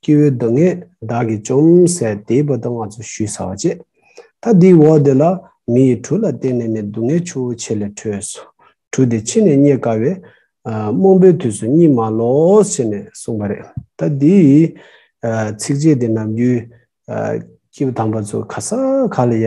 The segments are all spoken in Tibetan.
སྐྱེ་བོའི་སྡུག་བསྔལ་བདག་གིས་བཅོམ་ཟས་དེས་བུ་དང་ང་ཚོ་བཞུད་ཟ་བ་བྱས། ད་དེའི་འོག་དེ་ལ་མི་ཡི་གྲུ་ལ་བརྟེན་ནས་ནས་སྡུག་བསྔལ་ཆུ་བོ་ཆེ་ལས་འཕྲོས་སོ། གྲུ་དེ་ཕྱི་ནས་རྙེད་དཀའ་བས། རྨོངས་པའི་དུས་སུ་རྙེད་མ་ལོས་ཞེས་ནས་གསུངས་པ་རེད། ད་དེའི་ཚིགས་བཅད་དེ་ནམ་རྒྱུན། སྐྱེས་བུ་དམ་པ་ཚོ་ག་ས་ག་ལ་ཡ།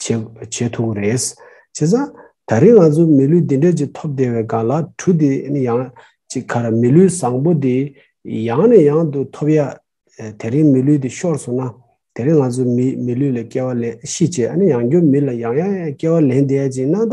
བྱེད་ཐུབ་ཀྱི་རེད། བྱས་ཙང། ད་རེས་ང་ཚོ་མི་ལུས་འདི་འདྲ་ཅིག་ཐོབ་བསྡད་པའི་སྒང་ལ་གྲུ་འདི་ནི་ཡང་ཅིག་ཁ་ར་མི་ལུས་བཟང་པོ་འདི་ཡང་ནས་ཡང་དུ་ཐོབ་ཡ། དེ་རིང་མི་ལུས་འདི་ཤོར་སོང་ན། དེ་རིང་ང་ཚོ་མི་ལུས་ལ་སྐྱེ་བ་ལེན་ཤི་བྱས་ཡང་སྐྱོ་མི་ལ་ཡང་ཡང་ཡང་སྐྱེ་བ་ལེན་བསྡད་ཅིག་ན་ད།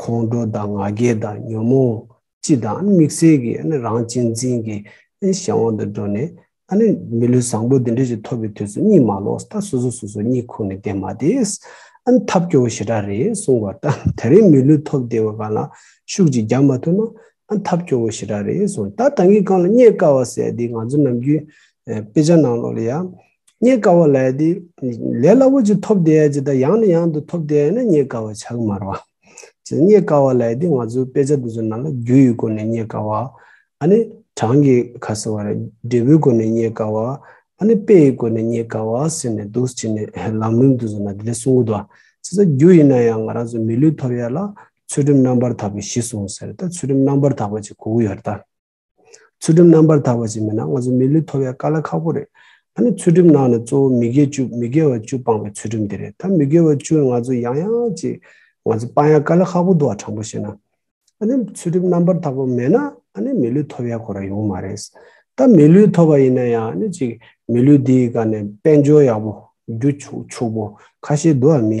ཁོང་ཁྲོ་དང་ང་རྒྱལ་དང་ཉོན་མོངས་སྤྱི་དང་དམིགས་བསལ་གྱི་རང་གཅེས་འཛིན་གྱི་གཞན་དབང་དུ་འགྲོ་ནས། མི་ལུས་བཟང་པོ་འདི་འདྲ་ཞིག་ཐོབ་པའི་དུས་སུ་གཉིད་མ་ལོག་སྟབས་སོ་སོ་སོ་སོ་གཉིད་ཁུག་ནས་བསྡད་མ་དེ། ཐབས་སྐྱོ་བོ་ཞེ་དྲག་རེད་གསུངས་བ་ལྟར་དེ་རིང་མི་ལུས་ཐོབ་བདེ་བའི་སྒང་ལ་ཤུགས་ཅིག་རྒྱག་མ་ཐུབ་ན། ཐབས་སྐྱོ་བོ་ཞེ་དྲག་རེད་གསུངས་ད་ད་གི་སྒང་ལ་རྙེད་དཀའ་བ་ཟད་དེ་ང་ཚོ་ནམ་རྒྱུན་དཔེ་ཆ་ནང་ལོགས་ལ་ཡང། རྙེད་དཀའ་བ་ལས་དེ་ལས་སླ་པོ་ཅིག་ཐོབ་བསྡད་ཅེས་དང་ཡང་ནས་ཡང་དུ་ཐོབ་བསྡད་ན་རྙེད་དཀའ་བ་ཆགས་མར་བ། ཅེས་རྙེད་དཀའ་བ་ལས་དེ་ང་ཚོའི་དཔེ་ཆ་འདི་ཚོ་ནང་ལ་རྒྱུ་ཡི་སྒོ་ནས་རྙེད་དཀའ་བ། ཨ་ནི་གྲངས་ཀྱི་ཁ་ཟེར་བ་རེད་འབྲས་བུའི་སྒོ་ནས་རྙེད་དཀའ་བ། ཨ་ནི་དཔེ་ཡི་སྒོ་ནས་རྙེད་དཀའ་བ་ཟེར་ནས་འདུག་ཅེས་ནས་ལམ་རིམ་འདི་ཚོ་ནང་དེ་ལས་གསུང་གི་འདུག་ཨ། ཅེས་ས་རྒྱུ་ཡིན་ན་ཡང་ང་རང་ཚོའི་མི་ལུས་ཐོབ་ཡ་ལ་ཚུལ་ཁྲིམས་རྣམ་པར་དག་པའི་གཞི་གསུངས་ཟེར་ད་ཚུལ་ཁྲིམས་རྣམ་པར་དག་པ་ཅིག་གོ་གི་ཡོད་རེད་ད། ཚུལ་ཁྲིམས་རྣམ་པར་དག་པ་ཞིག་མིན་ན་ང་ཚོ་མི་ལུས་ཐོབ་ཡ་དཀའ་ལ་ཁག་པོ་རེད། ཨ་ནི་ཚུལ་ཁྲིམས་ནང་ནས་གཙོ་བོ་མི་དགེ་བཅུ་མི་དགེ་བ་བཅུ་སྤངས་པའི་ཚུལ་ཁྲིམས་དེ་རེད་ད་མི་དགེ་བ་བཅུ་ང་ཚོ་ཡང་ཡང་ཅིག་ང་ཚོ་སྤང་ཡ་དཀའ་ལ་ཁག་པོ་འདུག་ཨ་དྲང་པོ་བཤད་ན། ཨ་ནི་ཚུལ་ཁྲིམས་རྣམ་པར་དག་པ་མེད་ན་ཨ་ནི་མི་ལུས་ཐོབ་ཡ་གོ་ར་ཡོང་མ་རེད། ད་མི་ལུས་ཐོབ་པ་ཡིན་ན་ཡང་ཨ་ནི་ཅིག་མི་ལུས་འདིའི་སྒ་ནས་དཔལ་འབྱོར་ཡག་པོ་རྒྱུ་ཕྱུག་པོ་ཁ་ཤས་འདུག་ཨ་མི་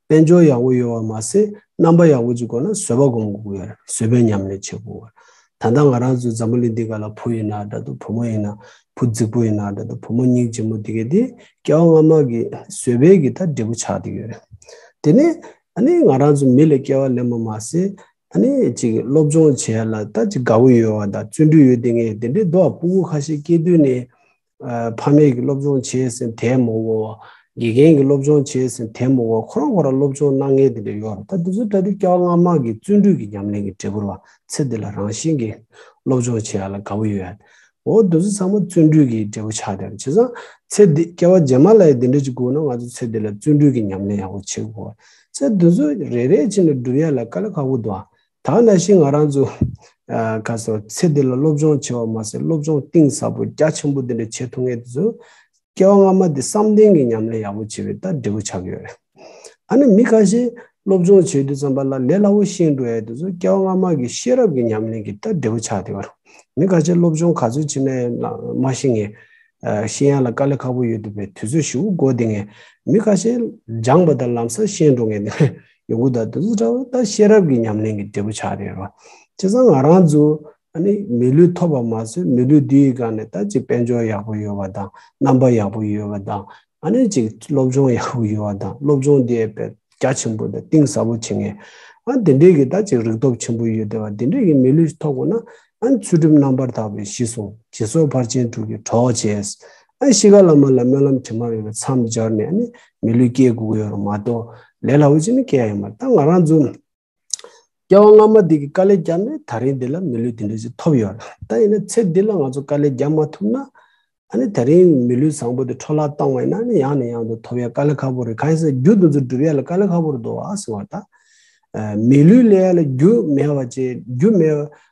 དཔལ་འབྱོར་ཡག་པོ་ཡོད་བ་མ་ཟད་རྣམ་པ་ཡག་པོ་ཅིག་དགོས་ན་བཟོད་པ་སྒོམ་དགོས་ཀྱི་རེད་བཟོད་པའི་ཉམས་ལེན་བྱེད་དགོས་ཀྱི་རེད་ད་ལྟ་ང་རང་ཚོའི་འཛམ་བུ་གླིང་འདི་ག་ལ་བུ་ཡིན་ན་འདྲ་འདུག་བུ་མོ་ཡིན་ན་བུ་རྫིག་པོ་ཡིན་ན་འདྲ་འདུག་བུ་མོ་སྙིང་རྗེ་མོ་དེ་གའི་དེ་སྐྱེ་བ་སྔ་མ་གི་བཟོད་པའི་གི་ད་འབྲས་བུ་ཆགས་འདི་ཡོད་རེད་དེ་ནས་ཨ་ནི་ང་རང་ཚོ་མི་ལ་སྐྱེ་བ་ལེན་པ་མ་ཟད་ཨ་ནི་ཅིག་སློབ་སྦྱོང་བྱས་ལ་ད་ཅིག་དགའ་བོ་ཡོད་བ་དང་བརྩོན་འགྲུས་ཡོད་དེ་ངས་དེ་འདྲའི་རྡོག་པོ་པོ་ཁ་ཤས་སྐྱེས་དུས་ནས་ཕ་མེས་ཀྱི་སློབ་སྦྱོང་བྱས་ཟིན་དེ་མ་འོངས་བ། དགེ་རྒན་གྱི་སློབ་སྦྱོང་བྱས་ཟིན་དེ་མ་འོངས་བ་ཁོ་རང་ཁོ་རང་སློབ་སྦྱོང་གནང་མཁན་དེ་འདྲ་ཡོད་རེད་ད། དེ་ཚོ་ད་དུས་སྐྱག་ལངས་དམག་གི་བརྩོན་འགྲུས་ཀྱི་ཉམས་ལེན་གྱི་འབྲས་བུར་བ་ཚེ་འདི་ལ་རང་བཞིན་གྱིས་སློབ་སྦྱོང་བྱེད་ཡ་ལ་དགའ་བོ་ཡོད་ཡ། འོ་དེ་ཚོ་ཚང་མ་བརྩོན་འགྲུས་ཀྱི་འབྲས་བུ་ཆགས་དེ་རེད་བྱས་ཙང་ཚེ་འདི་སྐྱེ་བ་རྗེས་མ་ལ་ཡི་འདི་འདྲ་ཅིག་དགོས་ན་ང་ཚོ་ཚེ་འདི་ལ་བརྩོན་འགྲུས་ཀྱི་ཉམས་ལེན་ཡག་པོ་བྱེད་དགོས། ཚེ་དེ་ཚོ་རེ་རེ་བྱས་ནས་བསྒྲུབ་ཡ་ལ་དཀའ་ལས་ཁག་པོ་འདུག་ཨ། ད་ང་ནས་ཤི་ང་རང་ཚོ་ག་སོ་ཚེ་འདི་ལ་སློབ་སྦྱོང་བྱེད་བ་མ་ཟད་སློབ་སྦྱོང་གཏིང་ཟབ་པོ་རྒྱ་ཆེན་པོ་འདི་འདྲ་བྱེད་ཐུབ་ངེས་དེ་ཚོ་སྐྱེ་བ་སྔ་མ་འདི་བསམ་གཏན་གྱི་ཉམས་ལེན་ཡག་པོ་བྱེད་པའི་ལྟར་འབྲས་བུ་ཆགས་ཀྱི་ཡོད་རེད། ཨ་ནི་མི་ཁ་ཤས་སློབ་སྦྱོང་བྱེད་དུས་ཙམ་པ་ལ་ལས་སླ་བོ་ཤེས་འགྲོ་ཡས་དེ་ཚོ་སྐྱེ་བ་སྔ་མ་གི་ཤེས་རབ་ཀྱི་ཉམས་ལེན་གྱི་ལྟར་འབྲས་བུ་ཆགས་དེ་བར་མི་ག་ཆེ་སློབ་སྦྱོང་ག་ཚོད་བྱེད་མེད་ན་མ་ཤི་ངེས། ཤེས་ཡོན་ལ་དཀའ་ལས་ཁག་པོ་ཡོད་འདུག་པས་དུས་ཚོད་ཞི་བོ་བགོ་དེ་ངས་མི་ཁ་ཤས་སྦྱངས་པ་དང་ལམ་སང་ཤེས་འགྲོ་ངེས་དེ་ངས་ཡོང་གི་དང་དུས་ཚོད་ཕྲ་བ་ད་ཤེས་རབ་ཀྱི་ཉམས་ལེན་གྱི་འབྲས་བུ་ཆགས་རེད་རོ། བྱས་ཙང་ང་རང་ཚོ་ནི་མི་ལུས་ཐོབ་པ་མ་ཟོས་མི་ལུས་འདི་ཡི་སྒང་ནས་ད་ཅི་དཔལ་འབྱོར་ཡག་པོ་ཡོད་པ་དང་རྣམ་པ་ཡག་པོ་ཡོད་པ་དང་ཨ་ནེ་གཅིག་སློབ་སྦྱོང་ཡག་པོ་ཡོད་བ་དང་སློབ་སྦྱོང་དེ་བེད་རྒྱ་ཆེན་པོ་དང་གཏིང་ཟབ་པོ་བྱེད་ངེས། ཨ་དེ་འདྲའི་གི་ད་ཅིག་རིག་སྟོབས་ཆེན་པོ་ཡོད་དེ་བ་དེ་འདྲའི་གི་མི་ལུས་ཐོག་པོ་ན་ཨ་ཚུལ་ཁྲིམས་རྣམ་པར་དག་པའི་གཞི་བཟུང་ཇི་སོགས་ཕར་ཕྱིན་དྲུག་གི་གྲོགས་བྱས། ཨ་གཞིས་ཀ་བླ་མ་ལ་སྨོན་ལམ་དྲི་མ་མེད་པའི་མཚམས་སྦྱར་ནས་ཨ་ནི་མི་ལུས་སྐྱེ་དགུ་གཡོ་རུ་མ་གཏོགས་ལས་སླ་བོ་ཅི་ནི་སྐྱེ་ཡ་ཡོད་མ་རེད་ད་ང་རང་ཚོ་སྐྱེ་བ་སྔ་མ་དེ་གི་དཀའ་ལས་བརྒྱབ་ནས་ད་རིང་འདི་ལ་མི་ལུས་དེ་འདྲ་ཞིག་ཐོབ་ཡོད། ད་ཡིན་ན་ཚེ་འདི་ལ་ང་ཚོ་དཀའ་ལས་བརྒྱབ་མ་ཐུབ་ན། ཨ་ནི་ད་རིང་མི་ལུས་བཟང་པོ་དེ་འཕྲོ་བརླག་གཏོང་བས་ན་ནི་ཡང་ནས་ཡང་དུ་ཐོབ་ཡ་དཀའ་ལས་ཁ་པོ་རེད་གང་ཡིན་ཟེར་རྒྱུ་འདི་ཚོ་སྒྲུབ་ཡ་ལ་དཀའ་ལས་ཁ་པོ་རེད་དོ་ཨ་ཟེར་བ་ད། མི་ལུས་ལས་ཡ་ལ་རྒྱུ་མེད་བ་ཅེས་རྒྱུ་མེད་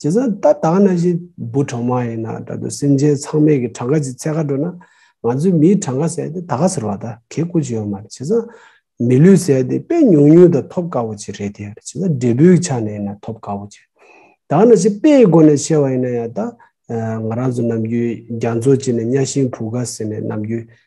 བྱས་ཙང་ད་ལྟ་ན་བཞིན་འབུ་གྲང་མ་ཡིན་ན་ད་དུང་སེམས་ཅན་ཚང་མས་ཀྱི་གྲངས་ཀ་ཅིག་ཚད་ཁ་འགྲོ་ན། ང་ཚོའི་མིའི་གྲངས་ཀ་ཟེར་ཏེ་ད་ག་ཟེར་བ་ད་གེ་བཀུར་ཅིག་ཡོད་མ་རེད་བྱས་ཙང། མི་ལུས་ཟེར་ཏེ་དཔེ་ཉུང་ཉུང་དང་ཐོབ་དཀའ་བོ་ཅིག་རེད་དེ། བྱས་ཙང་འབྲས་བུའི་ཆ་ནས་ཡིན་ན་ཐོབ་དཀའ་བོ་ཅིག་རེད། ད་ན་བཞིན་དཔེའི་སྒོ་ནས་བཤད་བ་ཡིན་ན་ཡང་ད། ང་རང་ཚོ་ནམ་རྒྱུན་རྒྱ་མཚོ་བྱས་ནས་གཉའ་ཤིང་བུ་ག་ཟེར་ནས་ནམ་རྒྱུན་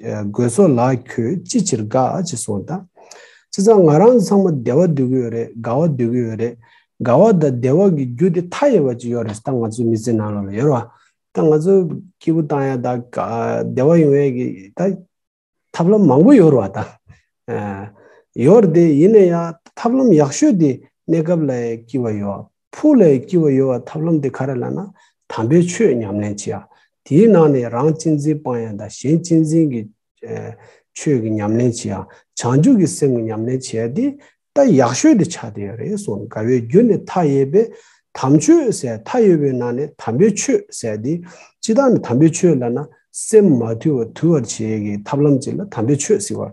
དགོས་སོ་ལགས་ཁྱོད་ཅི་ཕྱིར་དགའ་ཨ་ཅེས་སོང་ད། ཅི་ཙང་ང་རང་ཚང་མ་བདེ་བ་སྡོད་ཀྱི་ཡོད་རེད་དགའ་བ་སྡོད་ཀྱི་ཡོད་རེད། དགའ་བ་དང་བདེ་བ་གི་རྒྱུ་དེ་མཐའ་ཡས་པ་ཅིག་ཡོད་རེད་ད་ང་ཚོའི་མི་ཚེ་ནང་ལ་ལ་ཡོད་རེད་ད་ང་ཚོའི་སྐྱིད་པོ་བཏང་ཡག་དང་བདེ་བ་ཡོང་ཡག་གི་ད་ཐབས་ལམ་མང་པོ་ཡོད་རེད་ད། ཡོད་རེད་དེ་ཡིན་ན་ཡང་ཐབས་ལམ་ཡག་ཤོས་དེ་གནས་སྐབས་ལ་སྐྱིད་པ་ཡོད། ཕུགས་ལས་སྐྱི་བ་ཡོལ་བར་ཐབས་ལམ་དེ་ག་རེ་ལ་ན། དམ་པའི་ཆོས་ཉམས་ལེན་བྱེད། དེའི་ནང་ནས་རང་གཅེས་འཛིན་སྤང་ཡང་དང་གཞན་གཅེས་འཛིན་གྱི། ཆོས་ཀྱི་ཉམས་ལེན་བྱེད། བྱང་ཆུབ་ཀྱི་སེམས་ཀྱི་ཉམས་ལེན་བྱས་ཏེ། ད་ཡག་ཤོས་དེ་ཆགས་དེ་རེད་གསུངས་དགའ་བའི་རྒྱུ་ནི་མཐའ་ཡས་པས། དམ་ཆོས་ཟད་མཐའ་ཡོལ་བའི་ནང་ནས་དམ་པའི་ཆོས་ཟད་དེ། ཅི་ལྟར་ན་དམ་པའི་ཆོས་ལ་ན། སེམས་མ་དུལ་བ་དུལ་བར་བྱེད་ཀྱི་ཐབས་ལམ་ཅིག་ལ་དམ་པའི་ཆོས་ཟེར་བ།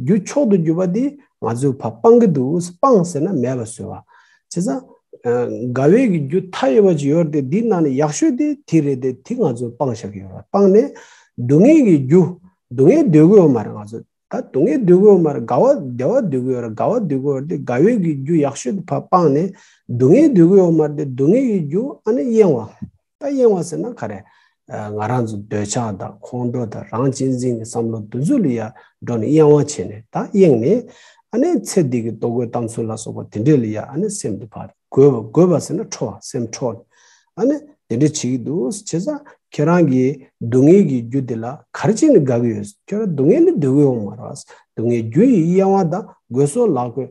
རྒྱུ་མཆོག་ཏུ་གྱུར་པ་དེ་ང་ཚོས་བ་སྤང་གི་འདུག་སྤང་ཟེར་ན་མེད་པ་བཟོས་བ། བྱས་ཙང། དགའ་བས་ཀྱི་རྒྱུ་མཐའ་ཡས་པ་ཅིག་ཡོད་དེ་དེའི་ནང་ནས་ཡག་ཤོས་དེ་དེ་རེད་དེ་དེ་ང་ཚོས་སྤང་བཞག་གི་ཡོད་བ་སྤངས་ནས། སྡུག་བསྔལ་གྱི་རྒྱུ། སྡུག་བསྔལ་སྡོད་གི་ཡོད་མ་རེད་ང་ཚོས་ད་སྡུག་བསྔལ་སྡོད་གི་ཡོད་མ་རེད་དགའ་བ་བདེ་བ་སྡོད་གི་ཡོད་རེད་དགའ་བ་སྡོད་གི་ཡོད་རེད་དེ་དགའ་བས་ཀྱི་རྒྱུ་ཡག་ཤོས་དེ་བ་སྤངས་ནས། སྡུག་བསྔལ་སྡོད་གི་ཡོད་མ་རེད་དེ་སྡུག་བསྔལ་གྱི་རྒྱུ་ཨ་ནི་གཡེང་བ། ད་གཡེང་བ་ཟེར་ན་ག་རེ། ང་རང་ཚོ་འདོད་ཆགས་དང་ཁོང་ཁྲོ་དང་རང་གཅེས་འཛིན་གྱི་བསམ་བློ་འདི་ཚོ་ལ་ཡར་འགྲོ་ནས་གཡེང་བ་བྱས་ནས་ད་གཡེང་ནས། ཨ་ནེ་ཚེ་འདི་གི་ལྟོ་གོས་གཏམ་ཚུལ་ལ་སོགས་པ་དེ་འདྲས་ལ་ཡར་ཨ་ནེ་སེམས་འདི་བར་དགོས། དགོས་པ་ཟེར་ན་ཁྲོ་བ་སེམས་ཁྲོ། ཨ་ནེ་དེ་འདྲས་བྱེད་ཀྱི་འདུག་བྱས་ཙང་ཁྱེད་རང་གིས་སྡུག་བསྔལ་གྱི་རྒྱུ་དེ་ལ་ག་རེ་བྱས་ནས་དགའ་གི་ཡོད། ཁྱོད་རང་སྡུག་བསྔལ་ལས་སྡོད་གི་ཡོང་མ་རེད། སྡུག་བསྔལ་རྒྱུ་ཡི་གཡེང་བ་དང་དགོས་སོགས་ལག་དགོས།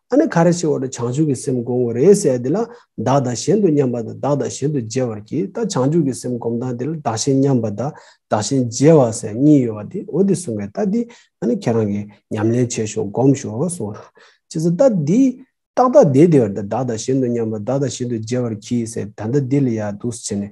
ཨ་ནི་ག་རེ་ཞིག་འོག་ཏུ་བྱང་ཆུབ་ཀྱི་སེམས་བསྒོམ་དགོས་རེད་ཟེར་དེ་ལ་བདག་དང་གཞན་དུ་མཉམ་པ་དང་བདག་དང་གཞན་དུ་འཇལ་བར་གྱིས་ད་བྱང་ཆུབ་ཀྱི་སེམས་བསྒོམ་སྟངས་དེ་ལ་བདག་གཞན་མཉམ་པ་དང་བདག་གཞན་འཇལ་བ་ཟེར་གཉིས་ཡོད་པ་དེ་འོ་དེ་གསུངས་པའི་རྟགས་འདི་ཨ་ནི་ཁྱེད་རང་གིས་ཉམས་ལེན་བྱས་ཤོག་བསྒོམ་ཤོག་གསུངས་ལ། ཇི་སྲིད་རྟགས་འདི། ཏག་ཏག་དེ་དེ་བར་དུ་བདག་དང་གཞན་དུ་མཉམ་པ་བདག་དང་གཞན་དུ་འཇལ་བར་གྱིས་ཟེར་ད་ལྟ་འདི་ལ་ཡང་དུག་སེལ་ནས